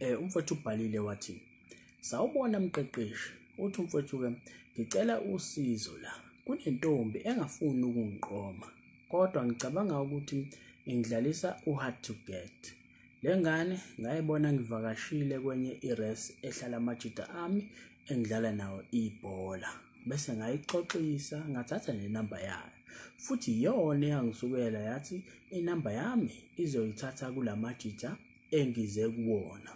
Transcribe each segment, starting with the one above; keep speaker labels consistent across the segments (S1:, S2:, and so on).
S1: eh umfowethu ubhalile wathi sawubona mqeqeshi uthi umfowethu ke ngicela usizo la kunentombi engafuni ukungiqoma kodwa ngicabanga ukuthi ingidlalisa uhard to get lengane ngayibona ngivakashile kwenye ires ehlala amajita ami engidlala nawo ibhola bese ngayixoxisa ngathatha nenamba yayo futhi yona eyangisukela yathi inamba yami izoyithatha kulamajita engize kuwona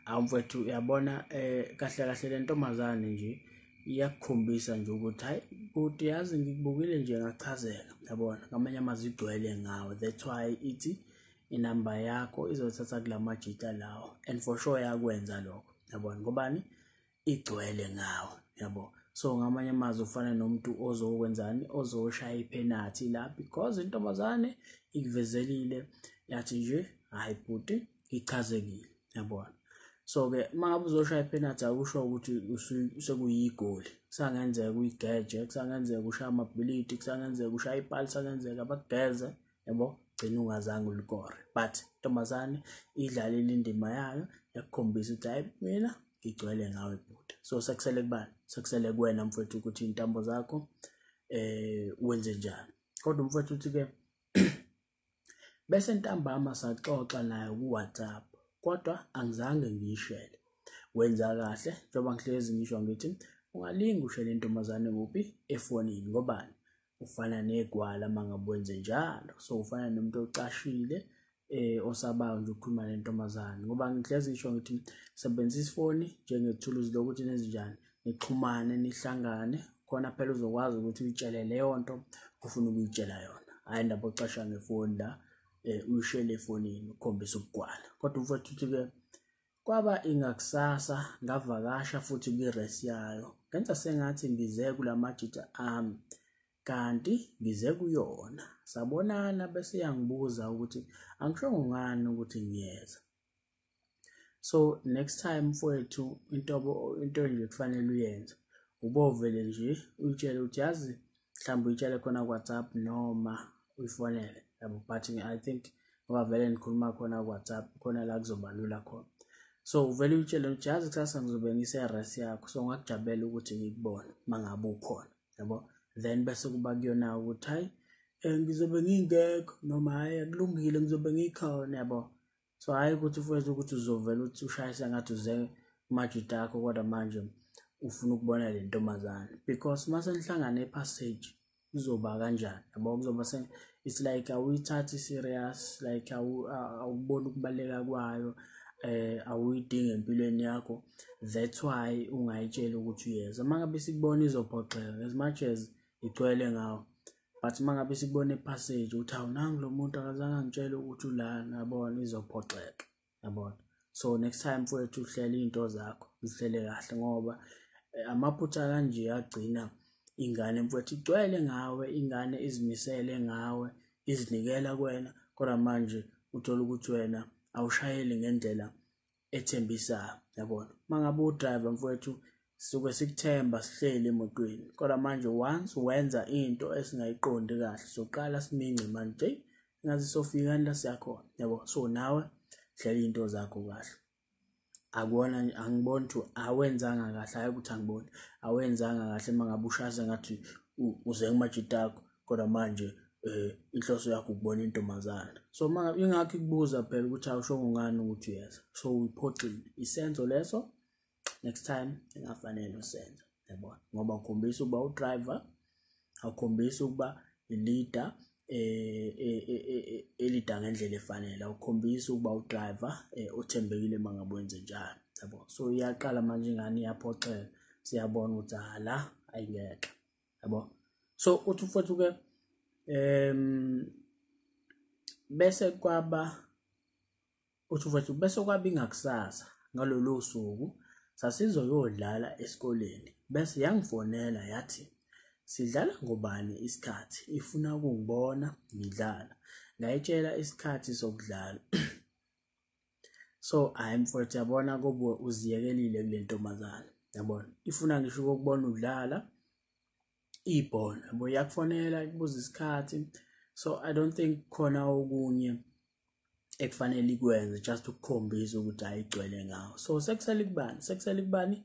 S1: awu mfethu uyabona eh kahle kahle le ntombazane nje iyakukhombisa nje ukuthi hayi bhuti yazi ngikubukile nje ngachazeka yabona ngamanye amazwi igcwele ngawo that's why ithi inamba yakho izothatha kula majita lawo and for sure yakwenza lokho yabona ngobani igcwele ngawo yabo so ngamanye amazwi ufana nomuntu ozokwenzani ozoshaya iphenathi la because intombazane ikuvezelile yathi nje hayi bhuti ichazekile yabona so-ke uma ngabe uzoshaya iphenathi akusho ukuthi sekuyigoli kusangenzeka uyigeje kusangenzeka ushaya amabhilidi kusangenzeka ushaya ipali kusangenzeka bakugeze yabo gcina ungazange ulikore but ntombazane idlalile indima yayo yakukhombisa ukuthi hayi mina ngigcwele ngawe bhuti so sekusele kubani sekusele kuwena mfowethu ukuthi iy'ntambo zakho eh wenze njani kodwa mfowethu uthi-ke bese ntambama saxoxa naye kuwhatsapp kodwa angizange ngiyishele wenza kahle njengoba ngihlezi ngisho ngithi ungalingi ushele intombazane kuphi efonini ngobani ufana negwala mangabe wenze njalo so ufana nomuntu ocashile eh osabayo nje ukukhuluma nentombazane ngoba ngihlezi ngisho ngithi sebenzisa ifoni njengethuluzi lokuthi nenze njani nixhumane nihlangane khona phela uzokwazi ukuthi uyitshele leyo nto ofuna ukuyitshela yona hayi ndaba ocasha ngefoni la um uyishele efonini ukhombisa ukugwala kodwa umfowethu uthi-ke Kwaba ingakusasa ngavakasha futhi kwiresi yayo, ngenza sengathi ngize kula majita ami kanti ngize kuyona. Sabonana bese yangibuza ukuthi angishongo ngani ukuthi ngiyeza. So next time mfowethu into into nje kufanele uyenze ubovele nje uyitshele ukuthi yazi mhlawumbe uyitshele khona kuwhatsapp noma uyifonele yabo but i think ngoba vele nikhuluma khona kuwhatsapp khona la kuzobalula khona so uvele uyitshele ukuthi yazi kusasa ngizobe ngise-res yakho so ngakujabulela ukuthi ngikubone uma ngabe ukhona yabo then bese kuba kuyona ukuthi hhayi um ngizobe ngingekho noma hhayi akulungile ngizobe ngikhona yabo so hhayi ukuthi ufethu ukuthi uzovele uthi ushayisa ngathi uze kumajita akho kodwa manje ufuna ukubona le ntombazane because uma senihlangane epassage kuzoba kanjani yabo kuzoba se it's like awuyithathi serious like awuboni ukubaleka kwayo eh awuyidingi empilweni yakho that's why ungayitshela ukuthi uyeza uma ngabe sikubona izophoxeka as much as igcwele ngawo but uma ngabe sikubona epassage ukuthi hawu nangu lo muntu akazange angitshele ukuthi ulana yabona izophoxeka yabona so next time mfowethu uhlela iy'nto zakho zihlele kahle ngoba eh, amaphutha kanje agcina ingane mfowethu igcwele ngawe ingane izimisele ngawe izinikela kwena kodwa manje uthola ukuthi wena awushayeli ngendlela ethembisa yabona uma ngabe udriver mfowethu suke sikuthemba sihleli emotweni kodwa manje once wenza into esingayiqondi kahle soqala simince manje ngathi sofika la siyakhona yabo so nawe hlela into zakho kahle akubona angiboni ukuthi awenzanga kahle hayi ukuthi angiboni awenzanga kahle uma ngabe ushasa ngathi uze kumajita akho kodwa manje eh inhloso yakho ukubona intombazana so uma ingakho ikubuza phela ukuthi awushongo ngani ukuthi uyeza so uyiphoxile isenzo leso next time engafanele usenze yabona ngoba ukhombisa ukuba udriver awukhombisa ukuba i-leader eh, eh, eh, elida ngendlela efanele awukhombisa ukuba udriver othembekile uma ngabe wenze njalo yabo so iyaqala manje ingane iyaphoxeka siyabona ukuthi hala ayingeke yabo so uthi futhi ke em bese kwaba uthi futhi bese kwaba ingakusasa ngalolu suku sasizoyodlala esikoleni bese yangifonela yathi sidlala ngobani isikhathi ifuna ukungibona ngidlala ngayitshela isikhathi sokudlala so hayi mfowethu yabona kobuwe uziyekelile kule ntombazane yabona ifuna ngisho ukubona udlala ibhola yabo iyakufonela ikubuza isikhathi so i don't think khona okunye ekufanele ikwenze just ukukhombisa ukuthi ayigcwele ngawo so sekusele kubani sekusele kubani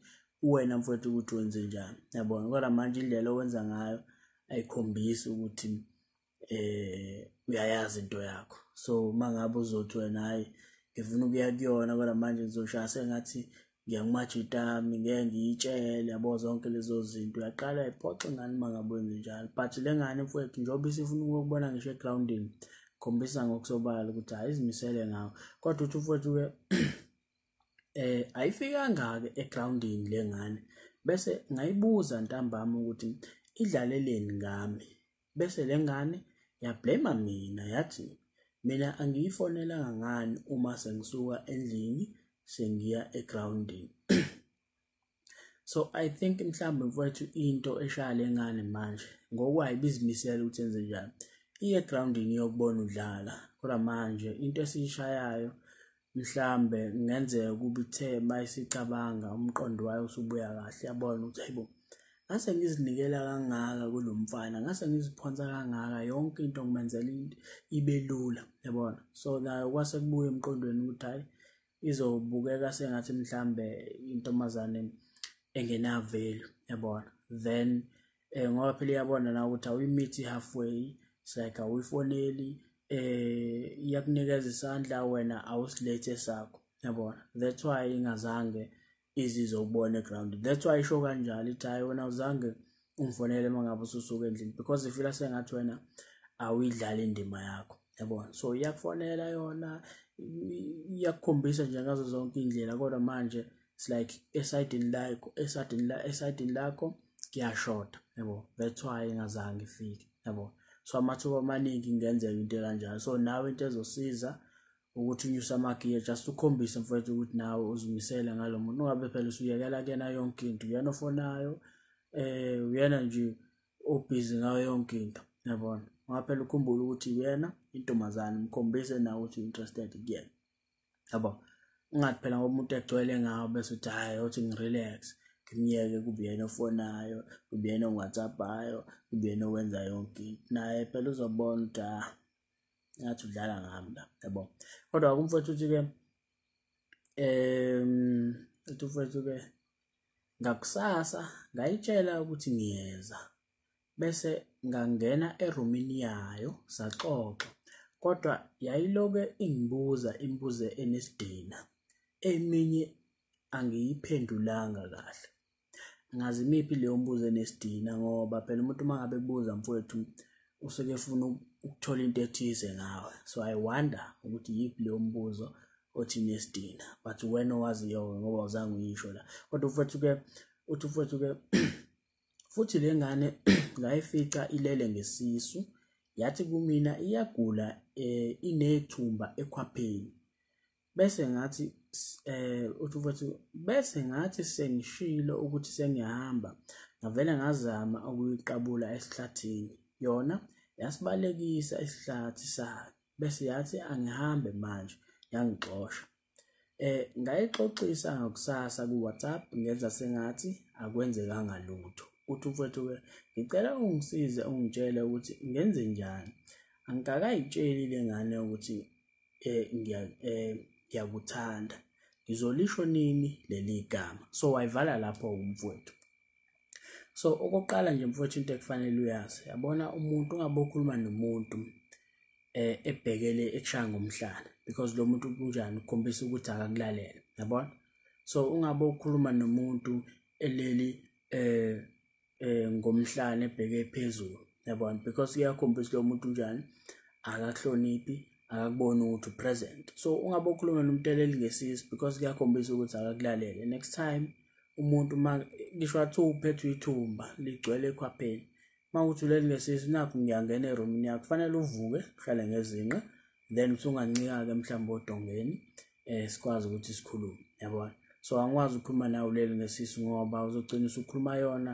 S1: uwena mfowethu ukuthi wenze njani yabona kodwa manje indlela owenza ngayo ayikhombisi ukuthi eh uyayazi into yakho so uma ngabe uzothi wena hayi ngifuna ukuya kuyona kodwa manje ngizoshaya sengathi ngiyangimaja itami ngeke ngiyitshele yabo zonke lezo zinto uyaqala iphoxe ngani uma ngabe wenze njalo but le ngane mfowethu njengoba isifuna ukubona ngisho egrawundini khombisa ngokusobala ukuthi hayi izimisele ngawo kodwa uthi mfowethu-ke eh ayifikanga-ke egrawundini le ngane bese ngayibuza ntambama ukuthi idlaleleni ngami bese lengane ya blame mina yathi mina angiyifonelanga ngani uma sengisuka endlini sengiya egroundini so i think mhlawumbe mfowethu into eshaya lengane manje ngokwayi bizimisela ukuthi enze njani iye egroundini yokubona udlala kodwa manje into esiyishayayo mhlambe kungenzeka ukuba ithe uma isicabanga umqondo wayo usubuya kahle yabona ukuthi hayibo ngase ngizinikela kangaka kulo mfana ngase ngiziphonsa kangaka yonke into ngimenzela into ibe lula yabona so nayo kwase kubuya emqondweni ukuthi hhayi izobukeka sengathi mhlambe intombazane engenavelu yabona then eh ngoba phela iyabona na ukuthi awuyimithi halfway like awuyifoneli eh iyakunikeza isandla wena awusilethe sakho yabona that's why ingazange izizwe ubone ground that's why isho kanjalo ithi hayi wena uzange ungifonele uma ngabe ususuka endlini because ifila sengathi wena awuyidlali indima yakho yabona so iyakufonela yona iyakukhombisa nje ngazo zonke indlela kodwa manje it's like esidini lakho esidini la esidini lakho kuyashoda yabo that's why ngazange ifike yabo so amathuba amaningi ingenzeka into kanjalo so nawe into ezosiza ukuthi unyuse amagiya just ukhombise mfowethu ukuthi nawe uzimisele ngalo muntu ungabe phela usuyekela kena yonke into uyena ofonayo eh uyena nje obhizi ngayo yonke into yabona ngaphela ukhumbula ukuthi uyena intombazane mkhombise nawe ukuthi interested kuyena yabo ungathi phela ngoba umuntu egcwele ngawo bese uthi hhayi othi ngirelax ngimyeke kube yena ofonayo kube yena owhatsappayo kube yena owenza yonke into naye phela uzobona ukuthi ah ngathi udlala ngami la yabo kodwa kumfowethu uthi-ke um uthi umfowethu-ke ngakusasa ngayitshela ukuthi ngiyeza Bese ngangena erumini yayo saxoxa kodwa yayiloke ingibuza imibuzo enesidina. Eminye angiyiphendulanga kahle. Ngazi imiphi leyo mbuzo enesidina ngoba phela umuntu uma ngabe ekubuza mfwethu usuke efuna ukuthola into ethize ngawe. So I wonder ukuthi yiphi leyo mbuzo othi nesidina but uwena owaziyo-ke ngoba awuzange uyisho la. Kodwa mfwethu-ke uthi mfwethu-ke Futhi le ngane ngayifica ilele ngesisu, yathi kumina iyagula um inethumba ekhwapheni. Bese ngathi eh uthi mfowethu bese ngathi sengishilo ukuthi sengiyahamba ngavele ngazama ukuyiqabula esihlathini yona yasibalekisa isihlathi sayo bese yathi angihambe manje yangixosha Eh ngayixoxisa ngakusasa ku WhatsApp ngenza sengathi akwenzekanga lutho. Uthi umfowethu ke ngicela ungisize ungitshele ukuthi ngenze njani. Angikakayitsheli lengane ukuthi eh ngiya eh ngiyakuthanda. Ngizolisho nini leli gama. So wayivala lapho umfowethu. so okokuqala nje mfowethu into ekufanele uyazi yabona umuntu ungabe ukhuluma nomuntu eh ebhekele ekushaya ngomhlana because lo muntu kunjani ukhombisa ukuthi akakulalele yabona so ungabe ukhuluma nomuntu eleli eh eh ngomhlane ebheke phezulu yabona because uyakhombisa lo muntu unjani akakuhloniphi akakuboni ukuthi upresent so ungabe ukhuluma nomuntu eleli ngesisi because kuyakhombisa ukuthi akakulalele next time umuntu uma ngisho wathi uphethwe ithumba ligcwele ekhwapheni uma uthi uleli ngesisu nakho ngiyangena erumini yakho kufanele uvuke uhlale ngezinqa then usungancika-ke mhlawumbe odongeni um sikwazi ukuthi sikhulume yabona so angikwazi ukukhuluma nawe uleli ngesisu ngoba uzogcina usukhuluma yona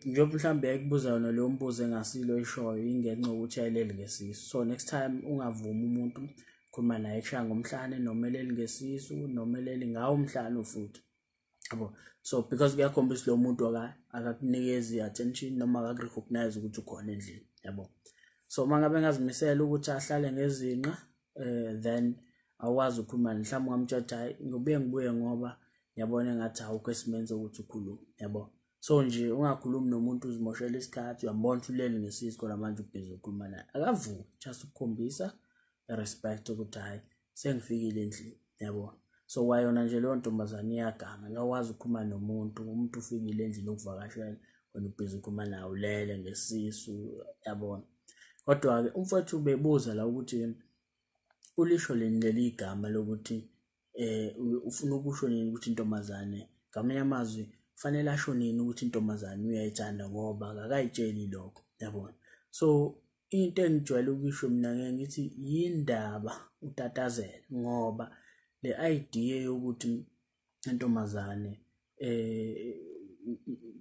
S1: njengoba mhlawumbe ekubuza yona leyo mbuzo engasilo ishoyo ingenxa yokuthi ayileli ngesisu so next time ungavumi umuntu khuluma naye kushaya ngomhlane noma eleli ngesisu noma eleli ngawo umhlane futhi yabo so because kuyakhombisa lo muntu akakunikezi i-attention noma akakurecognize ukuthi ukhona endlini yabo so uma ngabe ngazimisela ukuthi ahlale ngezinqa um then awazi ukhuluma mhlawumbe ungamtshatha hhayi ngibuye ngibuye ngoba ngiyabona engathi awukho esimeni sokuthi ukhulume yabo so nje ungakhulumi nomuntu uzimoshela isikhathi uyambona ukuthi ulele ngesisi khona manje ubhizi ukhuluma naye akavuki just ukukhombisa respect ukuthi hhayi sengifikile endlini yabona so kwayona nje leyo ntombazane iyaganga ngakwazi ukukhuluma nomuntu umuntu ufikile endlini okuvakashela wena ubhizi ukhuluma naye ulele ngesisu yabona kodwa-ke umfowethu bebuza la ukuthi ulisho lini leli igama lokuthi um ufuna ukusho nini ukuthi intombazane ngamanye amazwi kufanele asho nini ukuthi intombazane uyayithanda ngoba kakayitsheli lokho yabona so into engijwayele ukuyisho mina ngeke ngithi yindaba utatazela ngoba le idea yokuthi intombazane eh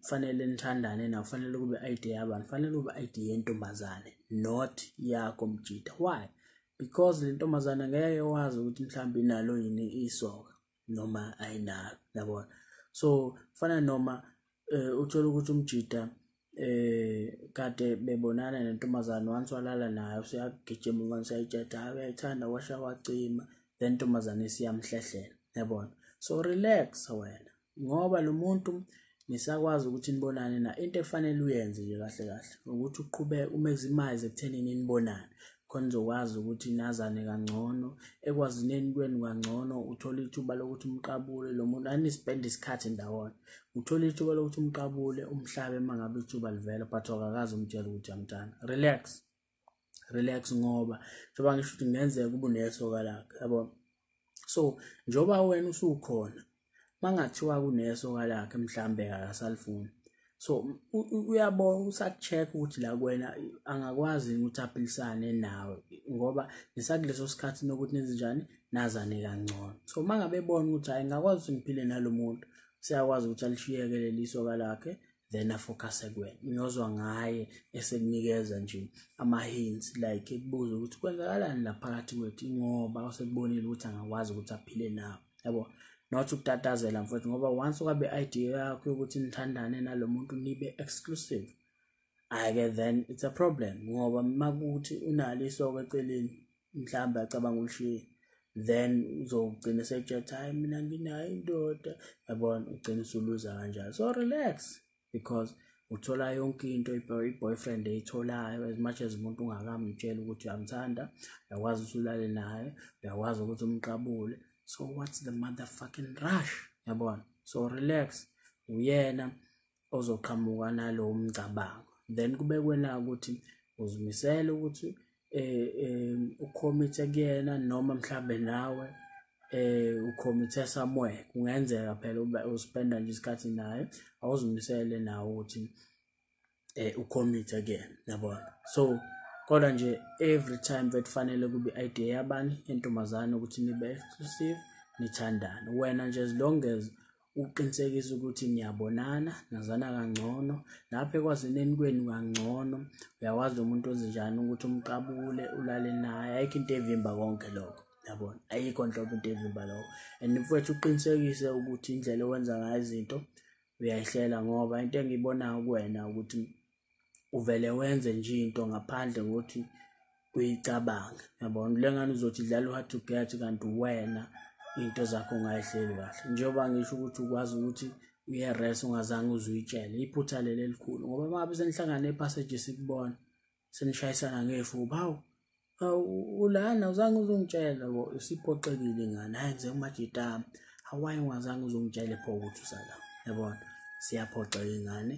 S1: kufanele nithandane na kufanele kube ID yabani kufanele kube ID yentombazane not yakho mjita why because le ntombazane ngeke wazi ukuthi mhlawumbe inalo yini isoka noma ayinalo yabona so fana noma eh uthola ukuthi umjita eh kade bebonana nentombazane once walala nayo siyagijima ingane siyayitsheda hayi uyayithanda washa wacima le ntombazane siyamhlehlela yabona so relax wena ngoba lo muntu nisakwazi ukuthi nibonane na into efanele uyenze nje kahle kahle ukuthi uqhubeke umeximize ekuthenini nibonane khona uzokwazi ukuthi nazane kangcono ekwazineni kwenu kangcono uthole ithuba lokuthi umqabule lo muntu anispende isikhathi ndawonye uthole ithuba lokuthi umqabule umhlabe uma ngabe ithuba livela but akakazi umtshela ukuthi amntana relax relax ngoba njengoba ngisho ukuthi kungenzeka ubunesoka lakhe yabona so njoba wena usukhona mangathiwa kuneso kalakhe mhlambe akasalifuni so uyabona usacheck ukuthi la kwena angakwazi ukuthi aphilisane nawe ngoba nisakuleso sikhathi nokuthi nenzenjani nazane kangcono so mangabe ebona ukuthi hayi ngakwazi ukuthi ngiphile nalomuntu siyakwazi ukuthi alishiyeke leliso kalakhe then afocuse kuwena uyozwa ngaye esekunikeza nje ama-hints like ekubuza ukuthi kwenzakalani la phakathi kwethu ingoba usekubonile ukuthi angakwazi ukuthi aphile nawo yabo not ukutatazela mfowethu ngoba once ukabe idea yakho yokuthi nithandane nalo muntu nibe exclusive ayike then it's a problem ngoba makuthi unalo isoko eceleni mhlawumbe acabanga ulishiye then uzogcina setshetha hayi mina nginayo indoda yabona ugcina usuluza kanjalo so relax because uthola yonke into i-boyfriend eyitholayo as much as umuntu ungakamtsheli ukuthi uyamthanda uyakwazi ukuthi ulale naye uyakwazi ukuthi umqabule so what's the motherfucking rush yabona so relax uyena ozoqhamuka nalowo mcabango then kube kwena ukuthi uzimisele ukuthi eh, eh ukhomithe kuyena noma mhlambe nawe eh ukhomithe somewhere kungenzeka phela uba uspenda nje isikhathi naye awuzimisele nawe ukuthi eh ukhomithe kuyena yabona so kodwa nje every time bekufanele kube idea yabani yentombazane ukuthi nibe exclusive nithandane wena nje as long as ukuqinisekisa ukuthi niyabonana nazana kangcono lapho ekwazeneni kwenu kangcono uyakwazi umuntu ozinjani ukuthi umqabule ulale naye ayikho into evimba konke lokho yabona ayikho nhlobo into evimba lokho and mfowethu uqinisekise ukuthi indlela owenza ngayo izinto uyayihlela ngoba into engiyibonayo kuwena ukuthi uvele wenze nje into ngaphandle kokuthi uyicabange yabona le ngane uzothi dlala u-hard to get kanti wena into zakho ungayihleli kahle njengoba ngisho ukuthi ukwazi ukuthi uye-res ungazange uze uyitshele iphutha leli elikhulu ngoba uma ngabe senihlangane ephaseji sikubona senishayisana ngefuba hawu ulana uzange uzongitshela bo usiphoxekile ngane hayi ngize kumajitama hawayi ungazange uzongitshele pho ukuthi usala yabona siyaphoxeka ingane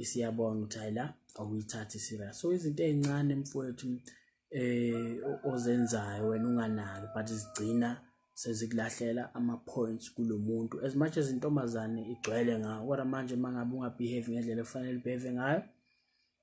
S1: isiyabona ukuthi hayi la awuyithathi serious so izinto ezincane mfowethu eh ozenzayo wena unganaki but zigcina sezikulahlela ama-points kulo muntu as much as intombazane igcwele ngawo kodwa manje uma ngabe ungabehave ngendlela efanele ubehave ngayo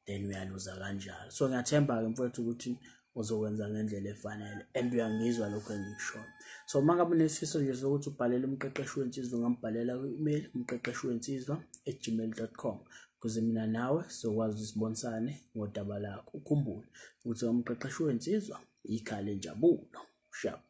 S1: then uyaluza kanjalo so ngiyathemba-ke mfowethu ukuthi uzokwenza ngendlela efanele and uyangizwa lokho engikushoyo so uma ngabe unesifiso nje sokuthi ubhalele umqeqeshi wensizwa ungambhalela kwi-email umqeqeshi wensizwa at gmail dot com ukuze mina nawe sizokwazi ukuthi sibonisane ngodaba lakho ukhumbule ukuthi umqeqeshi wensizwa yikhale njabulo shaba